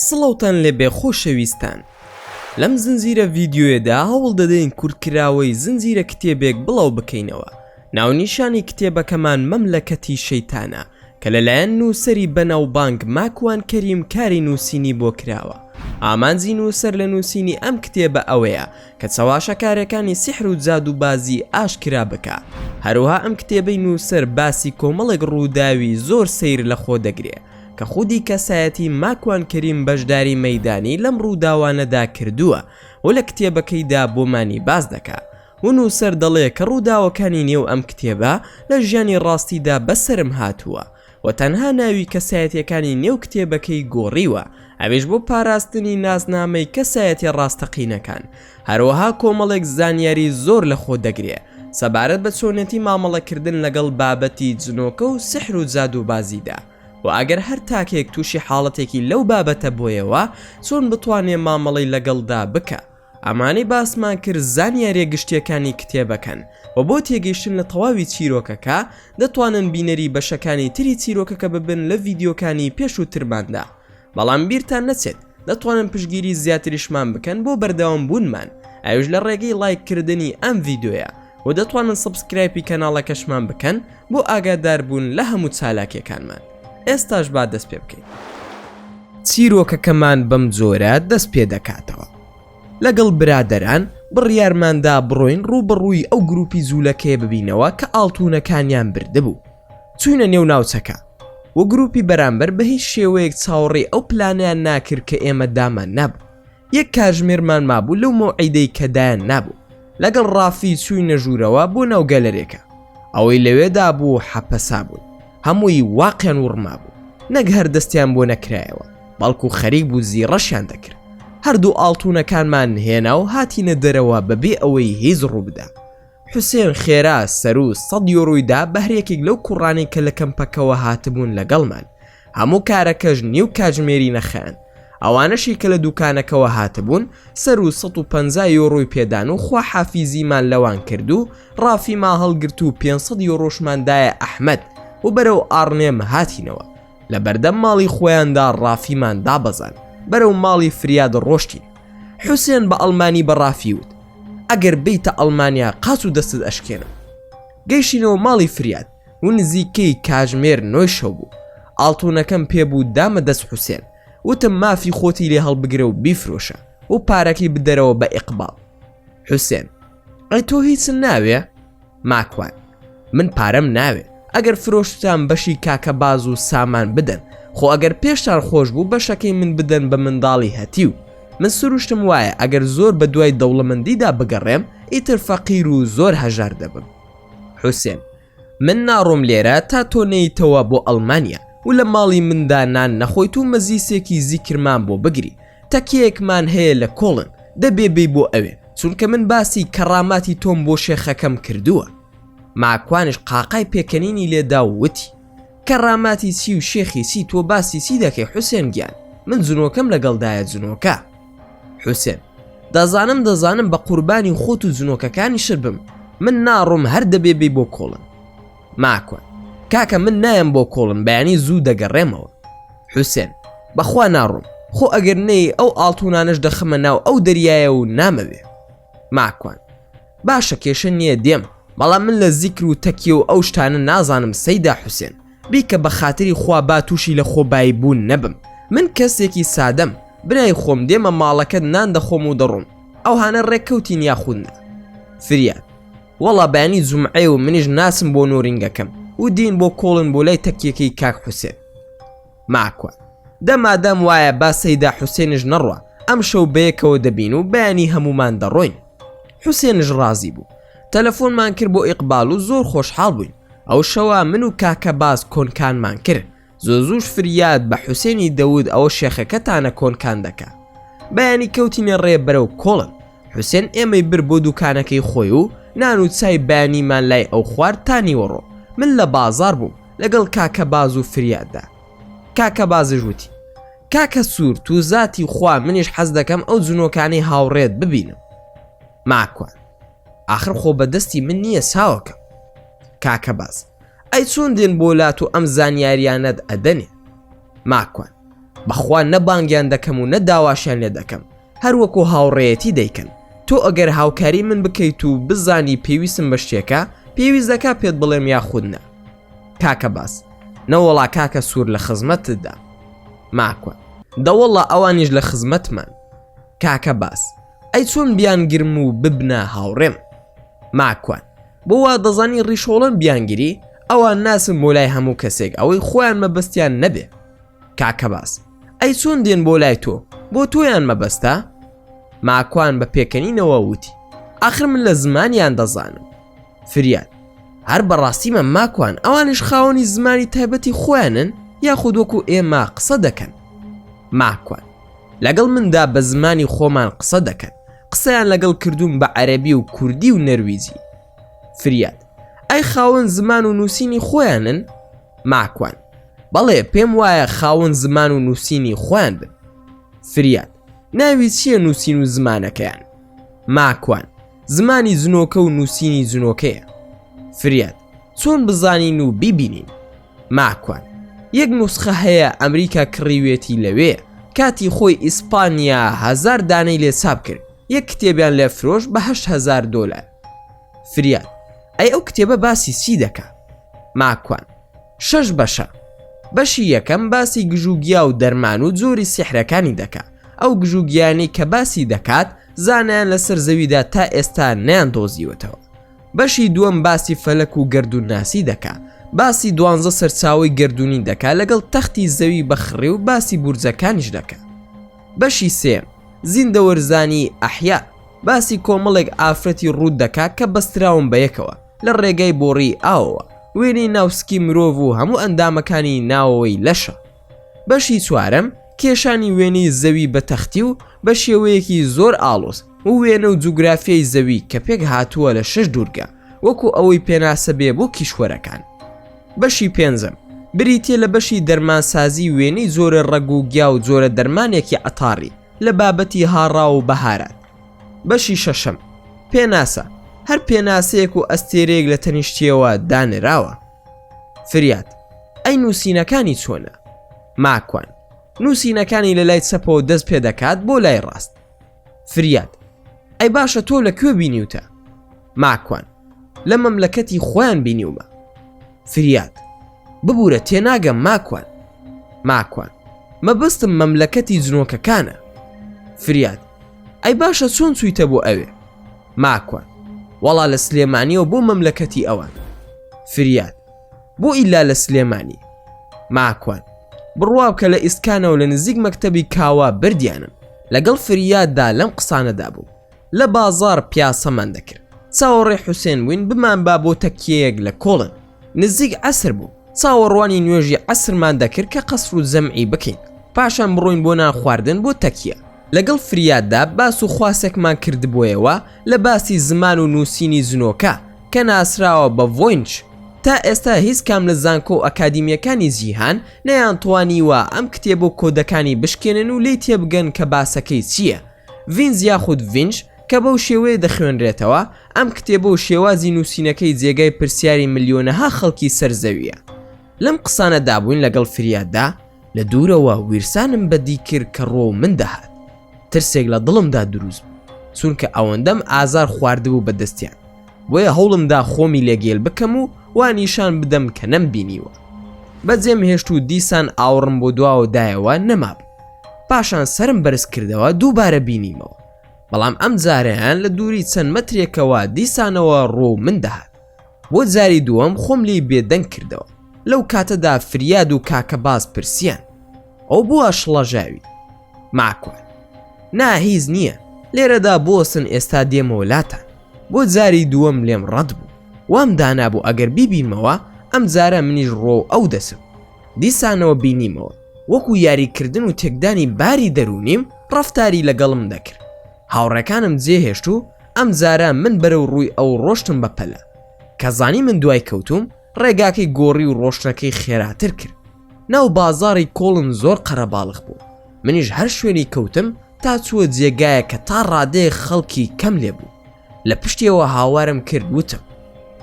سڵاوتان لێبێ خۆشەویستان لەم زنجیرە ڤیدیۆیەدا هەوڵ دەدەین کورتکراوەی زنجیرە کتێبێک بڵاو بکەینەوە ناونیشانی کتێبەکەمان مەملەکەتی شەیتانە کە لەلایەن نووسەری بەناوبانگ ماکوان کەریم کاری نووسینی بۆ کراوە، ئامانجی نووسەر لە نووسینی ئەم کتێبە ئەوەیە کە چەواشەکارێکانی سیحر و جادووبازی ئاشکرا بکا، هەروەها ئەم کتێبەی نووسەر باسی کۆمەڵێک ڕووداوی زۆر سەیر لە خۆ دەگرێ کە خودی کەسایەتی ماکوان کەریم بەشداری مەیدانی لەم ڕووداوانەدا کردووە و لە کتێبەکەیدا بۆمانی باس دەکا و نووسەر دەڵێ کە ڕووداوەکانی نێو ئەم کتێبە لە ژیانی ڕاستیدا بەسەرم هاتووە و تەنها ناوی کەسایەتییەکانی نێو کتێبەکەی گۆڕیوە ئەویش بۆ پاراستنی ناسنامەی کەسایەتیە ڕاستەقینەکان هەروەها کۆمەڵێک زانیاری زۆر لە خۆ دەگرێ سەبارەت بە چۆنێتی مامەڵەکردن لەگەڵ بابەتی جنۆکە و سحر و جادووبازیدا و ئەگەر هەر تاکێک تووشی حاڵەتێکی لەو بابەتە بۆیەوە چۆن بتوانێ مامەڵەی لەگەڵدا بکا. ئەمانەی باسمان کرد زانیاریە گشتیەکانی کتێبەکەن وە بۆ تێگەیشتن لە تەواوی چیرۆکەکە دەتوانن بینەری بەشەکانی تری چیرۆکەکە ببن لە ڤیدیۆکانی پێشووترماندا بەڵام بیرتان نەچێت دەتوانن پشگیری زیاتریشمان بکەن بۆ بەردەوام بوونمان ئەوش لە ڕێگەی ڵایک کردنی ئەم ڤیدۆیە و دەتوانن سبسکرایپی کەناڵەکەشمان بکەن بۆ ئاگاداربوون لە هەموو چالاکیەکانمان ئێستاش با دەست پێ بکەین چیرۆکەکەمان بەم جۆرە دەست پێ دەکاتەوە لەگەڵ برادەران بڕیارماندا بڕۆین ڕووبڕووی ئەو گروپی جوولەکەیە ببینەوە کە ئاڵتونەکانیان بردبوو چوینە نێو ناوچەکە و گروپی بەرامبەر بە هیچ شێوەیەک چاوەڕێی ئەو پلانیان ناکرد کە ئێمە دامان نابوو یەک کاژمێرمان مابوو لەو مەوعیدەی کە دایان نابوو لەگەڵ ڕافی چووینە ژوورەوە بۆ ناو گەلەرێکە ئەوەی لەوێدا بوو حەپەسا بوون هەمووی واقیان وڕما بوو نەک هەر دەستیان بۆ نەکرایەوە بەڵکو خەریک بوو زیڕەشیان دەکرد هەردوو ئاڵتونەکانمان نهێنا و هاتینە دەرەوە بەبێ ئەوەی هیچ ڕووبدا حوسێن خێرا سەرو سەد یۆرۆیدا بەهرێکێک لەو کوڕانی کە لە کەمپەکەوە هاتبوون لەگەڵمان هەموو کارەکەش نیو کاژمێری نەخەیان، ئەوانەشی کە لە دووکانەکەوە هاتبوون سەروو سەد و پەنجا یۆرۆی پێدان و خواحافیزیمان لەوان کرد و ڕافیما هەڵگرت و پێنج سەد یۆرۆشمان دایە ئەحمەد و بەرەو ئاڕنێم هاتینەوە، لە بەردەم ماڵی خۆیاندا ڕافیمان دابەزاند، بەرەو ماڵی فریاد ڕۆشتین. حوسێن بە ئەڵمانی بە ڕافی وت، ئەگەر بێیتە ئەڵمانیا قاچ و دەستت ئەشکێنم. گەیشتینەوە ماڵی فریاد. و نزیکەی کاژمێر نۆی شەو بوو ئاڵتونەکەم پێبوو دامە دەست حوسێن وتم مافی خۆتی لێ هەڵبگرە و بیفرۆشە و پارەکەی بدەرەوە بە ئیقباڵ حوسێن ئەی تۆ هیچ ناوێ ماکوان من پارەم ناوێ ئەگەر فرۆشتان بەشی کاکە باز و سامان بدەن خۆ ئەگەر پێشتان خۆش بوو بەشەکەی من بدەن بە منداڵی هەتی و من سروشتم وایە ئەگەر زۆر بە دوای دەوڵەمەندیدا بگەڕێم ئیتر فەقیر و زۆر هەژار دەبم حوسێن. من ناڕۆم لێرە تا تۆ نێیتەوە بۆ ئەڵمانیا و لە ماڵی مندا نان نەخۆیت و مەزیسێکی زیکرمان بۆ بگری. تەکیەیەکمان هەیە لە کۆڵن، دەبێ بێی بۆ ئەوێ، چونکە من باسی کەڕاماتی تۆم بۆ شێخەکەم کردووە. ماکوانیش قاقای پێکەنینی لێ دا و وتی. کەڕاماتی چی و شێخی چی، تۆ باسی چی دەکەی حوسێن گیان؟ من جنۆکەم لەگەڵدایە جنۆکە. حوسێن دەزانم دەزانم بە قوربانی خۆت و جنۆکەکانی شر بم من ناڕۆم هەر دەبێ بی بۆ کۆڵن ماکوان کاکە من نایم بۆ کۆڵن بەیانی زوو دەگەڕێمەوە حوسێن بەخوا ناڕۆم خۆ ئەگەر نەی ئەو ئاڵتونانش دەخەمە ناو ئەو دەریایە و نامەوێ ماکوان باشە کێشە نییە دێم بەڵام من لە زیکر و تەکیە و ئەو شتانە نازانم سەیدا حوسێن بیکە بە خاتری خوا با تووشی لە خۆبایی بوون نەبم من کەسێکی سادەم برای خۆم دێمە ماڵەکەت نان دەخۆم و دەڕۆم ئەو هاانە ڕێککەوتین یاخودنا فریاد وەڵا بەیانی جمعێ و منیش ناسم بۆ نۆرینگەکەم و دین بۆ کۆڵن بۆ لای تەکیەکەی کاک حوسێن ماکوان دە مادام وایە با سەیدا حوسێنش نەڕوا ئەم شەو بەیەکەوە دەبین و بەیانی هەمومان دەڕۆین حوسێنش ڕازی بوو تەلەفۆنمان کرد بۆ ئیقبال و زۆر خۆشحاڵ بووین ئەو شەوە من و کاکە باز کۆنکانمان کرد زۆ زوش فریاد بە حوسێنی دەود ئەوە شێخەکەتانە کۆنکان دەکە بەیانی کەوتینە ڕێ بەرەو کۆڵن حوسێن ئێمەی بر بۆ دوکانەکەی خۆی و نان و چای بەیانیمان لای ئەو خوارد تانیوەڕۆ من لە بازار بووم لەگەڵ کاکە باز و فریاددا کاکە بازش وتی کاکە سوور تو زاتی خوا منیش حەز دەکەم ئەو جنۆکانی هاوڕێت ببینم ماکوان آخر خۆ بەدەستی من نییە ساوەکە کاکە باز ئەی چۆن دێن بۆ لات و ئەم زانیاریانەت ئەدەنێ ماکوان، بەخوا نە بانگیان دەکەم و نە داواشیان لێ دەکەم، هەر وەکو هاوڕێیەتی دەیکەن، تۆ ئەگەر هاوکاری من بکەیت و بزانی پێویستم بە شتێکە، پێویست دەکا پێت بڵێم یاخود نا؟ کاکە باز، نەوەڵا کاکە سوور لە خزمەتتدا. ماکوان، دە وەڵا ئەوانیش لە خزمەتمن. کاکە باز، ئەی چۆن بیانگرم و ببنە هاوڕێم؟ ماکوان، بۆ وا دەزانی ڕیشۆڵم بیانگری ئەوان ناسن بۆ لای هەموو کەسێک ئەوەی خۆیان مەبەستیان نەبێ کاکە باس ئەی چۆن دێن بۆ لای تۆ بۆ تۆیان مەبەستە ماکوان بە پێکەنینەوە وتی ئاخر من لە زمانیان دەزانم فریاد هەر بەڕاستیمە ماکوان ئەوانش خاوەنی زمانی تایبەتی خۆیانن یاخود وەکو ئێمە قسە دەکەن ماکوان لەگەڵ مندا بە زمانی خۆمان قسە دەکەن قسەیان لەگەڵ کردووم بە عەرەبی و کوردی و نەرویجی فریاد ئەی خاوەن زمان و نووسینی خۆیانن ماکوان بەڵێ پێم وایە خاوەن زمان و نووسینی خۆیان بن فریاد ناوی چییە نووسین و زمانەکەیان ماکوان زمانی زنۆکە و نووسینی زنۆکەیە فریاد چۆن بزانین و بیبینین ماکوان یەک نوسخە هەیە ئەمریکا کڕیوێتی لەوێ کاتی خۆی ئیسپانیا هەزار دانەی لێ چاپ کرد یەک کتێبیان لێ فرۆش بە هەشت هەزار دۆلار فریاد ئەی ئەو کتێبە باسی چی دەکا ماکوان شەش بەشە بەشی یەکەم باسی گژوگیا و دەرمان و جۆری سیحرەکانی دەکا ئەو گژوگیانی کە باسی دەکات زانیان لەسەر زەویدا تا ئێستا نیان دۆزیوەتەوە بەشی دووەم باسی فەلەک و گەردون ناسی دەکا باسی دوانزە سەرچاوی گردردونی دەکا لەگەڵ تەختی زەوی بەخڕێ و باسی بورجەکانیش دەکە بەشی سێم زیندەوەرزانی ئەحیا باسی کۆمەڵێک ئافرەتی ڕوود دەکا کە بەستراون بە یەکەوە لە ڕێگای بۆڕی ئاوەوە وێنەی ناوسکی مرۆڤ و هەموو ئەندامەکانی ناوەوەی لەشە بەشی چوارەم، کێشانی وێنەی زەوی بە تەختی و بە شێوەیەکی زۆر ئاڵۆز و وێنە و جوگرافیای زەوی کە پێک هاتووە لە شەش دوورگە وەکو ئەوەی پێناسە بێ بۆ کیشوەرەکان. بەشی پێنجەم، بریتیە لە بەشی دەرمانسازی وێنەی جۆرە ڕەگ و گیا و جۆرە دەرمانێکی عەتاڕی لە بابەتی هاڕاو و بەهارات. بەشی شەشەم، پێناسە، هەر پێناسەیەک و ئەستێرەیەک لە تەنیشتیەوە دانراوە. فریاد، ئەی نووسینەکانی چۆنە؟ ماکوان، نووسینەکانی لە لای چەپەوە دەست پێ دەکات بۆ لای ڕاست. فریاد، ئەی باشە تۆ لە کوێ بینیوتە؟ ماکوان، لە مەملەکەتی خۆیان بینیومە. فریاد، ببورە تێناگەم ماکوان. ماکوان، مەبەستم مەملەکەتی جنۆکەکانە. فریاد، ئەی باشە چۆن چوویتە بۆ ئەوێ؟ ماکوان وەڵا لە سلێمانیەوە بۆ مەملەکەتی ئەوان فریاد بۆ ئیلا لە سلێمانی ماکوان بڕواب کە لە ئیسکانەوە لە نزیک مەکتتەبی کاوا بردیانم لەگەڵ فریاددا لەم قسانەدا بوو لە بازار پیاسەمان دەکرد چاوەڕێ حوسێن بووین بمان با بۆ تەکیەیەک لە کۆڵن نزیک ئەسر بوو چاوەڕوانی نوێژی ئەسرمان دەکرد کە قەسر و زەمعی بکەین پاشان بڕۆین بۆ نان خواردن بۆ تەکیە لەگەڵ فریاددا باس و خواسێکمان کردبوویەوە لە باسی زمان و نووسینی زنۆکە کە ناسراوە بە ڤۆینچ، تا ئێستا هیچ کام لە زانکۆ و ئەکادیمییەکانی جیهان نەیانتوانیوە ئەم کتێب و کۆدەکانی بشکێنن و لێی تێبگەن کە باسەکەی چییە. ڤینج یاخود ڤینج کە بەو شێوەیە دەخوێنرێتەوە، ئەم کتێب و شێوازی نووسینەکەی جێگای پرسیاری ملیۆنەها خەڵکی سەر زەوییە. لەم قسانە دابووین لەگەڵ فریاددا لە دوورەوە ویرسانم بەدی کرد کە ڕۆ من دەهات ترسێک لە دڵمدا دروست بوو چونکە ئەوەندەم ئازار خواردبوو بە دەستیان بۆیە هەوڵمدا خۆمی لێگەل بکەم و وانیشان بدەم کە نەم بینیوە بەجێم هێشت و دیسان ئاوڕم بۆ دواوە دایەوە نەمابوو پاشان سرم بەرز کردەوە دووبارە بینیمەوە بەڵام ئەم جارەیان لە دووری چەند مەترێکەوە دیسانەوە ڕۆ من دەهات بۆ جاری دووەم خۆم لێی بێدەنگ کردەوە لەو کاتەدا فریاد و کاکە باز پرسیان ئەو بۆ ئەشڵەژاوی ماکوان نا هیز نییە لێرەدا بۆسن ئێستا دێمەوە لاتان بۆ جاری دووەم لێم ڕەت بوو وام دانابوو ئەگەر بیبینمەوە ئەم جارە منیش ڕۆ ئەو دەسم دیسانەوە بینیمەوە وەکو یاریکردن و تێکدانی باری دەرونیم ڕفتاری لەگەڵم دەکرد هاوڕێکانم جێ هێشت و ئەم جارە من بەرەو ڕووی ئەو ڕۆشتم بە پەلە کە زانی من دوای کەوتوم ڕێگاکەی گۆڕی و ڕۆشتنەکەی خێراتر کرد ناو بازاری کۆڵن زۆر قەرەباڵخ بوو منیش هەر شوێنی کەوتم تا چووە جێگایە کە تا ڕادێ خەڵکی کەم لێ بوو لە پشتیەوە هاوارم کرد وتم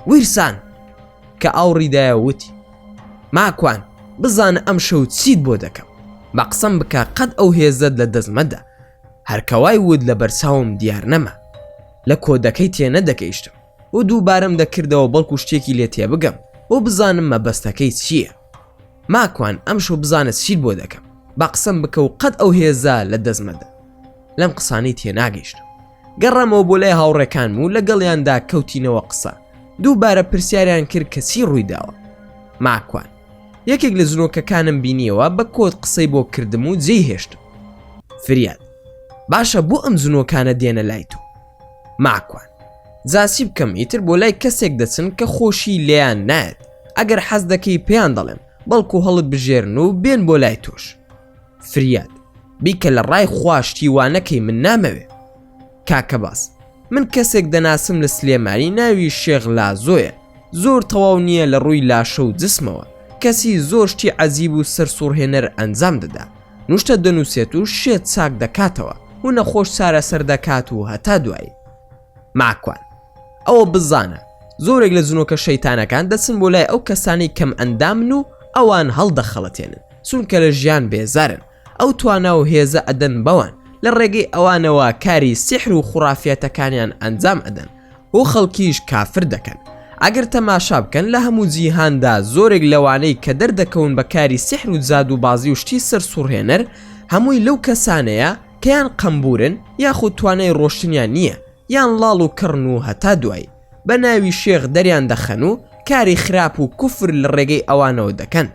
ویرسان کە ئاوڕیدایە وتی ماکوان بزانە ئەم شەو چیت بۆ دەکەم بە قسەم بکە قەت ئەو هێزت لە دەستمەدا هەر کەوای وت لە بەرچاوم دیار نەما. لە کۆدەکەی تێنەدەگەیشتم و دووبارەم دەکردەوە بەڵکو شتێکی لێ تێبگەم و بزانم مەبەستەکەی چییە. ماکوان ئەمشەو بزانە چیت بۆ دەکەم، با قسەم بکە و قەت ئەو هێزە لە دەست مەدە. لەم قسانەی تێناگەیشتم. گەڕامەوە بۆ لای هاوڕێکانم و لەگەڵیاندا کەوتینەوە قسە. دووبارە پرسیاریان کرد کە چی ڕووی داوە. ماکوان. یەکێک لە زرۆکەکانم بینیەوە بە کۆت قسەی بۆ کردم و جێی هێشتم فریاد باشە بۆ ئەم زنۆکانە دێنە لای تۆ ماکوان زاسی بکەم ئیتر بۆ لای کەسێک دەچن کە خۆشی لێیان نایەت ئەگەر حەز دەکەی پێیان دەڵێم بەڵکو هەڵت بژێرن و بێن بۆ لای تۆش فریاد بیکە لە ڕای خوا شتی وا نەکەی من نامەوێ کاکە باس من کەسێک دەناسم لە سلێمانی ناوی شێخ لازۆیە زۆر تەواو نییە لە ڕووی لاشە و جسمەوە کەسی زۆر شتی عەزیب و سەر سوڕهێنەر ئەنجام دەدا نوشتە دەنووسێت و شێت چاک دەکاتەوە و نەخۆش چارەسەر دەکات و هەتا دوایی ماکوان ئەوە بزانە زۆرێک لە جنۆکە شەیتانەکان دەچن بۆ لای ئەو کەسانی کەم ئەندامن و ئەوان هەڵدەخەڵەتێنن چونکە لە ژیان بێزارن ئەو توانا و هێزە ئەدەن بەوان لە ڕێگەی ئەوانەوە کاری سیحر و خوڕافیەتەکانیان ئەنجام ئەدەن و خەڵکیش کافر دەکەن ئەگەر تەماشا بکەن لە هەموو جیهاندا زۆرێک لەوانەی کە دەردەکەون بە کاری سیحر و زاد و بازی و شتی سەر سوڕهێنەر هەمووی لەو کەسانەیە کەیان قەمبورن یاخود توانای ڕۆشتنیان نییە یان ڵاڵ و کڕن و هەتا دوایی بە ناوی شێخ دەریان دەخەن و کاری خراپ و کوفر لە ڕێگەی ئەوانەوە دەکەن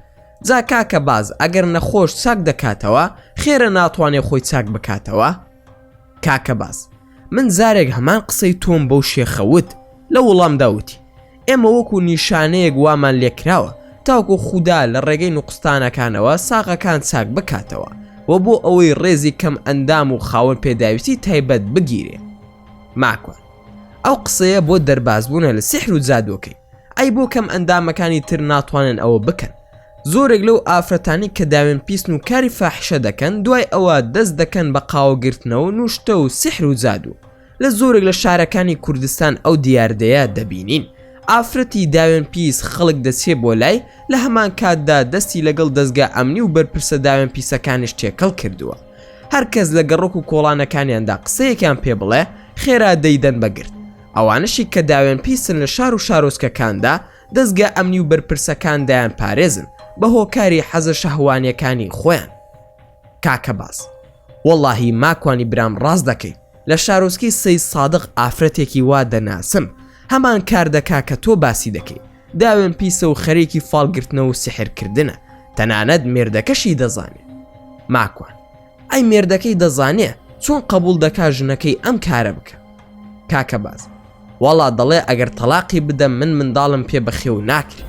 جا کاکە باز ئەگەر نەخۆش چاک دەکاتەوە خێرە ناتوانێ خۆی چاک بکاتەوە کاکە باز. من جارێک هەمان قسەی تۆم بەو شێخە وت لە وڵامدا وتی ئێمە وەکو نیشانەیەک وامان لێکراوە تاوکو خودا لە ڕێگەی نوقستانەکانەوە ساغەکان چاک بکاتەوە و بۆ ئەوەی ڕێزی کەم ئەندام و خاوەن پێداویستی تایبەت بگیرێ ماکوان ئەو قسەیە بۆ دەربازبوونە لە سحر و جادوەکەی ئەی بۆ کەم ئەندامەکانی تر ناتوانن ئەوە بکەن زۆرێک لەو ئافرەتانی کە داوێن پیسن و کاری فاحشە دەکەن دوای ئەوە دەست دەکەن بە قاوە گرتنەوە نوشتە و سحر و زادوو لە زۆرێک لە شارەکانی کوردستان ئەو دیاردەیە دەبینین ئافرەتی داوێن پیس خەڵک دەچێ بۆ لای لە هەمان کاتدا دەستی لەگەڵ دەستگا ئەمنی و بەرپرسە داوێن پیسەکانیش تێکەڵ کردووە هەرکەس لە گەڕۆک و کۆڵانەکانیاندا قسەیەکیان پێ بڵێ خێرا دەیدەن بەگرت ئەوانەشی کە داوێن پیسن لە شار و شارۆچکەکاندا دەزگا ئەمنی و بەرپرسەکان دەیان پارێزن بە هۆکاری حەزە شەهوانیەکانی خۆیان کاکە باس وەڵاهی ماکوانی برام ڕاست دەکەی لە شارۆچکی سەی سادق ئافرەتێکی وا دەناسم هەمان کار دەکا کە تۆ باسی دەکەی داوێن پیسە و خەرێکی فالگرتنەوە و سحرکردنە تەنانەت مێردەکەشی دەزانێت ماکوان ئەی مێردەکەی دەزانێ چۆن قبول دەکا ژنەکەی ئەم کارە بکە کاکە باز وەڵا دەڵێ ئەگەر تەلاقی بدەم من منداڵم پێ بەخێو ناکرێ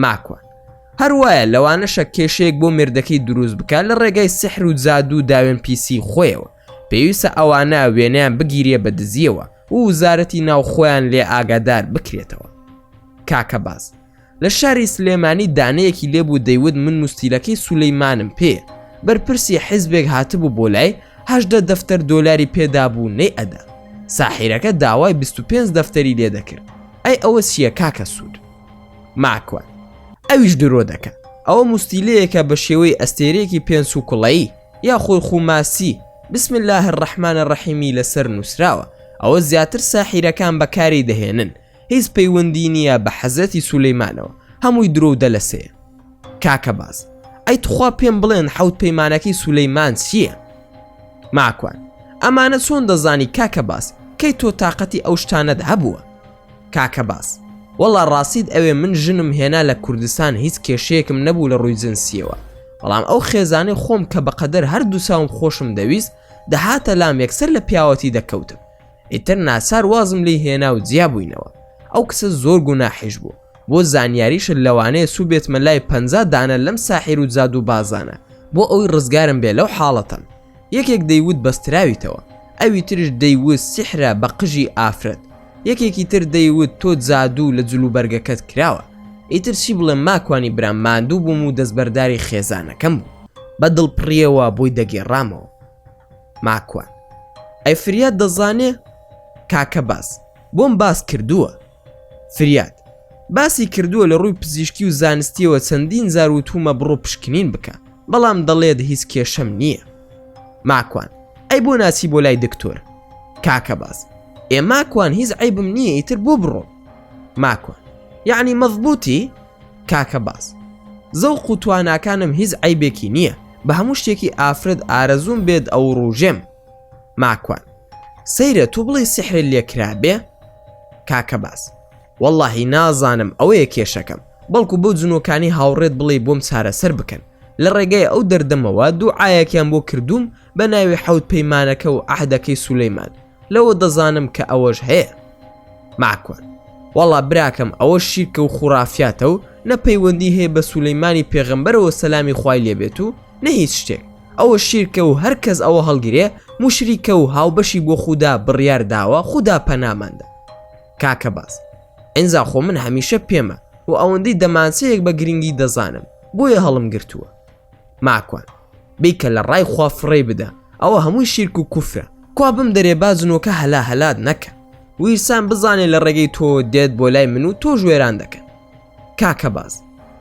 ماکوان هەروایە لەوانەشە کێشەیەک بۆ مێردەکەی دروست بکە لە ڕێگای سحر و جادو و داوێن پیسی خۆیەوە پێویستە ئەوانە وێنیان بگیرێ بە دزیەوە و وزارەتی ناوخۆیان لێ ئاگادار بکرێتەوە کاکە باز لە شاری سلێمانی دانەیەکی لێبوو دەیوت من مستیلەکەی سولەیمانم پێ بەرپرسی حیزبێک هاتبوو بۆ لای هەشدە دەفتەر دۆلاری پێدابوو نەی ئەدا ساحیرەکە داوای 25 دەفتەری لێ دەکرد ئەی ئەوە چییە کاکە سوود ماکوان ئەویش درۆ دەکە ئەوە مستیلەیەکە بە شێوەی ئەستێرێکی پێنس و کوڵایی یا خۆی خوماسی بسم الله الرحمن الرحیمی لەسەر نووسراوە ئەوە زیاتر ساحیرەکان بەکاری دەهێنن هیچ پەیوەندی نیە بە حەزرەتی سولەیمانەوە هەمووی درۆ و دەلەسەیە کاکە باز ئەی تخوا پێم بڵێن حەوت پەیمانەکەی سولەیمان چییە ماکوان ئەمانە چۆن دەزانی کاکە باس کەی تۆ تااقەتی ئەو شتانەت هەبووە کاکە باس وەڵا ڕاستیت ئەوێ من ژنم هێنا لە کوردستان هیچ کێشەیەکم نەبوو لە ڕووی جنسیەوە بەڵام ئەو خێزانەی خۆم کە بەقەدەر هەردوو چاوم خۆشم دەویست دەهاتە لام یەکسەر لە پیاوەتی دەکەوتم ئیتر ناچار وازم لی هێنا و جیا بووینەوە ئەو کچە زۆر گوناحیش بوو بۆ زانیاریشە لەوانەیە سوو بێتمە لای پ دانە لەم ساحیر و جاد و بازانە بۆ ئەوی ڕزگارم بێ لەو حاڵەتەم یەکێک دەیوت بەستراویتەوە ئەوی ترش دەیوت سیحرە بە قژی ئافرەت یەکێکی تر دەیوت تۆ جادوو لە جلو بەرگەکەت کراوە ئیتر چی بڵێ ماکوانی برام ماندوو بووم و دەستبەرداری خێزانەکەم بوو بە دڵپڕیەوە بۆی دەگێڕامەوە ماکوان. ئەی فریاد دەزانێ؟ کاکە باز. بۆم باس کردووە. فریاد. باسی کردووە لە ڕووی پزیشکی و زانستیەوە چەندین زار وتومە بڕۆ پشکنین بکە بەڵام دەڵێت هیچ کێشەم نییە. ماکوان. ئەی بۆ ناچی بۆ لای دکتۆر. کاکە باز. ئێ ماکوان هیچ عیبم نییە ئیتر بۆ بڕۆم. ماکوان. یعنی مەضبوتی؟ کاکە باز زەوق و تواناکانم هیچ عیبێکی نییە بە هەموو شتێکی ئافرەت ئارەزووم بێت ئەو ڕوژێم ماکوان سەیرە تو بڵێ سحرە لێکرابێ کاکە باز واللهی نازانم ئەوەیە کێشەکەم بەڵکو بۆ جنۆکانی هاوڕێت بڵێ بۆم چارەسەر بکەن لە ڕێگای ئەو دەردەمەوە دوو ئاەکیان بۆ کردووم بە ناوی حەوت پەیمانەکە و ئەهدەکەی سولەیمان لەوە دەزانم کە ئەوەش هەیە ماکوان وەڵا براکەم ئەوە شیرکە و خوڕافاتە و نە پەیوەندی هەیە بە سولەیمانی پێغەمبەرەوە سەلامی خوای لێبێت و نە هیچ شتێک ئەوە شیرکە و هەر کەس ئەوە هەڵگرێ مشریکە و هاوبەشی بۆ خوددا بڕیار داوە خوددا پەناماندا کاکە باز ئەنجا خۆ من هەمیشە پێمە و ئەوەندەی دەمانچەیەک بە گرنگی دەزانم بۆیە هەڵم گرتووە ماکوان بیکە لە ڕای خوا فڕێی بدە ئەوە هەمووی شیرک و کوفرە کوا بم دەرێ بازنۆکە هەلا هەلات نەکە ویرسان بزانێ لە ڕێگەی تۆ دێت بۆ لای من و تۆ ژێران دەکەن کاکە باز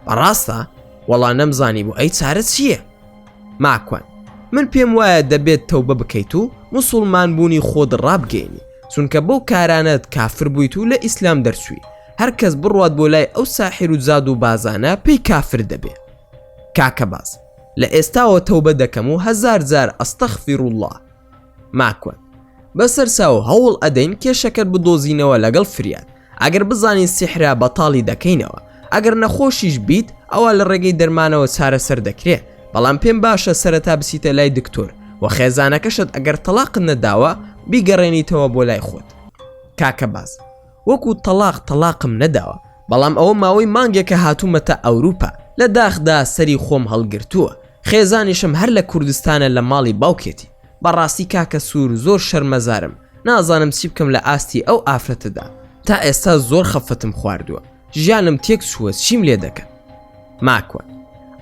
بەڕاستە وەڵا نەمزانی بۆ ئەی چارە چییە ماکوان من پێم وایە دەبێت تەوبە بکەیت و مسلمان بوونی خۆت ڕابگەینی چونکە بەو کارانت کافر بوویت و لە ئیسلام دەرچووی هەر کەس بڕوات بۆ لای ئەو ساحر و زاد و بازانە پێی کافر دەبێ کاکە باز لە ئێستاوە تەوبە دەکەم و هەزار جار استغفراللە ماکوەن بەسەرچاو هەوڵ ئەدەین کێشەکەت بدۆزینەوە لەگەڵ فریاد ئەگەر بزانین سیحرە بەتاڵی دەکەینەوە ئەگەر نەخۆشیش بیت ئەوا لە ڕێگەی دەرمانەوە چارەسەر دەکرێ بەڵام پێم باشە سەرەتا بچیتە لای دکتۆر و خێزانەکەشت ئەگەر تەڵاقت نەداوە بیگەڕێنیتەوە بۆ لای خۆت کاکە باز وەکو تەڵاق تەڵاقم نەداوە بەڵام ئەوە ماوەی مانگێکە هاتومەتە ئەوروپا لە داخدا سەری خۆم هەڵگرتووە خێزانیشم هەر لە کوردستانە لە ماڵی باوکێتی بەڕاستی کاکە سور زۆر شەرمەزارم نازانم چی بکەم لە ئاستی ئەو ئافرەتەدا تا ئێستا زۆر خەفەتم خواردووە ژیانم تێک چووە چیم لێ دەکەن ماکوان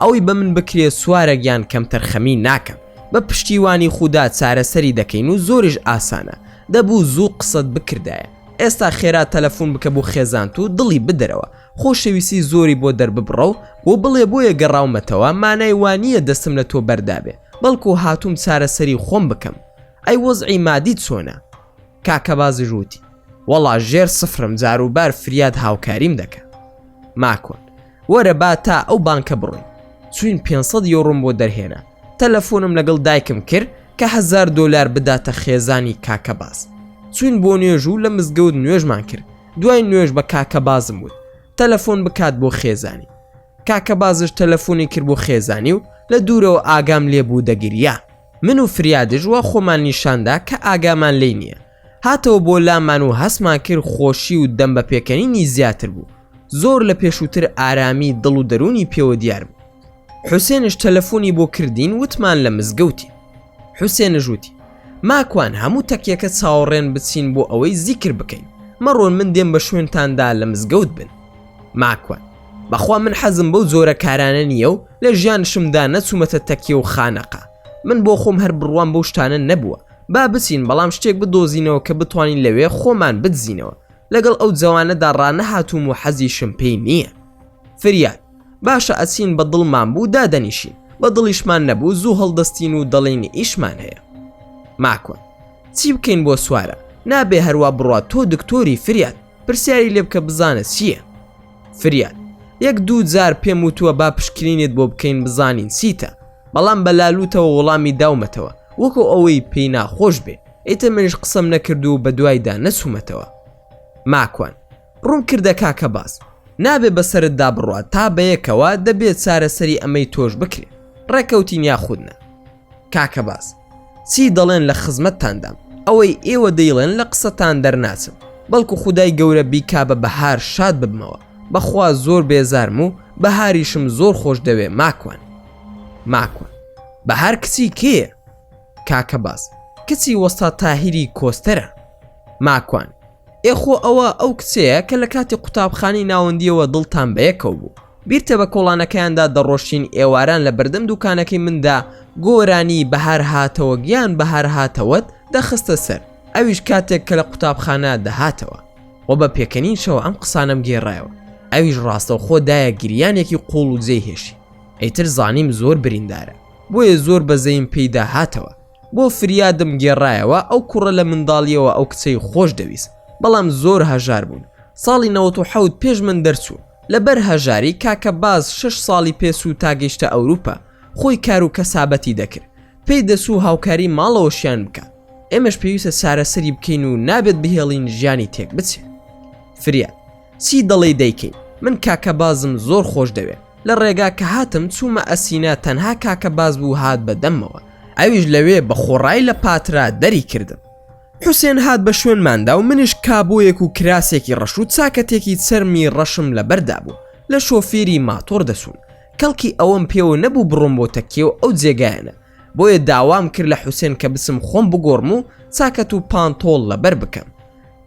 ئەوەی بە من بکرێ سوارە گیان کەمتەرخەمی ناکەم بە پشتیوانی خودا چارەسەری دەکەین و زۆریش ئاسانە دەبوو زوو قسەت بکردایە ئێستا خێرا تەلەفون بکە بۆ خێزانت و دڵی بدەرەوە خۆشەویستی زۆری بۆ دەرببڕە و بۆ بڵێ بۆیە گەڕاومەتەوە مانای وانییە دەستم لە تۆ بەردابێ بەڵکو هاتووم چارەسەری خۆم بکەم ئەی وەزعی مادی چۆنە کاکە بازی ژووتی وەڵا ژێر سفرم جاروبار فریاد هاوکاریم دەکە ماکۆن وەرە با تا ئەو بانکە بڕۆین چوین 500 یۆڕۆم بۆ دەرهێنا تەلەفۆنم لەگەڵ دایکم کرد کە هزار دۆلار بداتە خێزانی کاکە باز چوین بۆ نوێژ و لە مزگەوت نوێژمان کرد دوای نوێژ بە کاکە بازم وت تەلەفۆن بکات بۆ خێزانی کاکە بازش تەلەفۆنی کرد بۆ خێزانی و لە دوورەوە ئاگام لێبوو دەگریا من و فریادژ وە خۆمان نیشاندا کە ئاگامان لی نییە هاتەوە بۆ لامان و هەستمان کرد خۆشی و دەم بە پێکەنینی زیاتر بوو زۆر لە پێشووتر ئارامی دڵ و دەروونی پێوە دیار بوو حوسێنش تەلەفۆنی بۆ کردین وتمان لە مزگەوتی حوسێنش وتی ماکوان هەموو تەکیەکە چاوەڕێن بچین بۆ ئەوەی زیکر بکەین مەڕۆن من دێم بە شوێنتاندا لە مزگەوت بن ماکوان بەخوا من حەزم بەو جۆرە کارانە نییە و لە ژیان شمدا نەچوومەتە تەکیە و خانەقا من بۆ خۆم هەر بڕوام بەو شتانە نەبووە با بچین بەڵام شتێک بدۆزینەوە کە بتوانین لەوێ خۆمان بدزینەوە لەگەڵ ئەو جەوانەدا ڕانەهاتووم و حەزیشم پێی نییە فریاد باشە ئەچین بە دڵمان بوو دادەنیشین بە دڵیشمان نەبوو زوو هەڵدەستین و دەڵین ئیشمان هەیە ماکۆن چی بکەین بۆ سوارە نابێ هەروە بڕات تۆ دکتۆری فریاد پرسیاری لێ بکە بزانە چییە فریاد یەک دوو جار پێم وتووە با پشکرینت بۆ بکەین بزانین چیتە بەڵام بە لالوتەوە وەڵامی داومەتەوە وەکو ئەوەی پێی ناخۆش بێ ئیتر منش قسەم نەکرد و بە دوایدا نەچوومەتەوە ماکوان ڕوون کردە کاکە باس نابێ بەسەرتدا بڕات تا بەیەکەوە دەبێت چارەسەری ئەمەی تۆش بکرێ ڕێکەوتین یاخودنا کاکە باز چی دەڵێن لە خزمەتتاندام ئەوەی ئێوە دەیڵێن لە قسەتان دەرناچم بەڵکو خدای گەورە بیکا بە بەهار شاد ببمەوە بەخوا زۆر بێزارم و بەهاریشم زۆر خۆش دەوێ ماکوان ماکوان بە هەر کچی کێ کاکە باز کچی وەستا تاهیری کۆستەرە ماکوان ئێ خۆ ئەوە ئەو کچەیە کە لە کاتی قوتابخانەی ناوەندییەوە دڵتان بە یەکەوە بوو بیرتە بە کۆڵانەکەیاندا دەڕۆشتین ئێواران لە بەردەم دوکانەکەی مندا گۆرانی بەهار هاتەوە گیان بەهار هاتەوەت دەخستە سەر ئەویش کاتێک کە لە قوتابخانە دەهاتەوە و بە پێکەنینشەوە ئەم قسانم گێڕایەوە ئەویش ڕاستەوخۆ دایە گریانێکی قوڵ و جێی هێشی ئەیتر زانیم زۆر بریندارە بۆیە زۆر بەزەیم پێیدا هاتەوە بۆ فریادم گێڕایەوە ئەو کوڕە لە منداڵیەوە ئەو کچەی خۆش دەویست بەڵام زۆر هەژار بوون ساڵی 1970 پێش من دەرچوو لەبەر هەژاری کاکە باز شش ساڵی پێسوو تا گەیشتە ئەوروپا خۆی کار و کەسابەتی دەکرد پێی دەسوو هاوکاری ماڵەوەشیان بکە ئێمەش پێویستە چارەسەری بکەین و نابێت بهێڵین ژیانی تێک بچێت فریاد چی دەڵێی دەیکەین من کاکە بازم زۆر خۆش دەوێ لە ڕێگا کە هاتم چوومە ئەسینا تەنها کاکە باز بوو هات بە دەمەوە ئەویش لەوێ بە خۆڕای لە پاترا دەری کردم حوسێن هات بە شوێنماندا و منیش کابۆیەک و کراسێکی ڕەش و چاکەتێکی چەرمی ڕەشم لە بەردا بوو لە شۆفێری ماتۆر دەسوون کەڵکی ئەوەم پێوە نەبوو بڕۆم بۆ تەکێ و ئەو جێگایەنە بۆیە داوام کرد لە حوسێن کە بسم خۆم بگۆڕم و چاکەت و پانتۆڵ لەبەر بکەم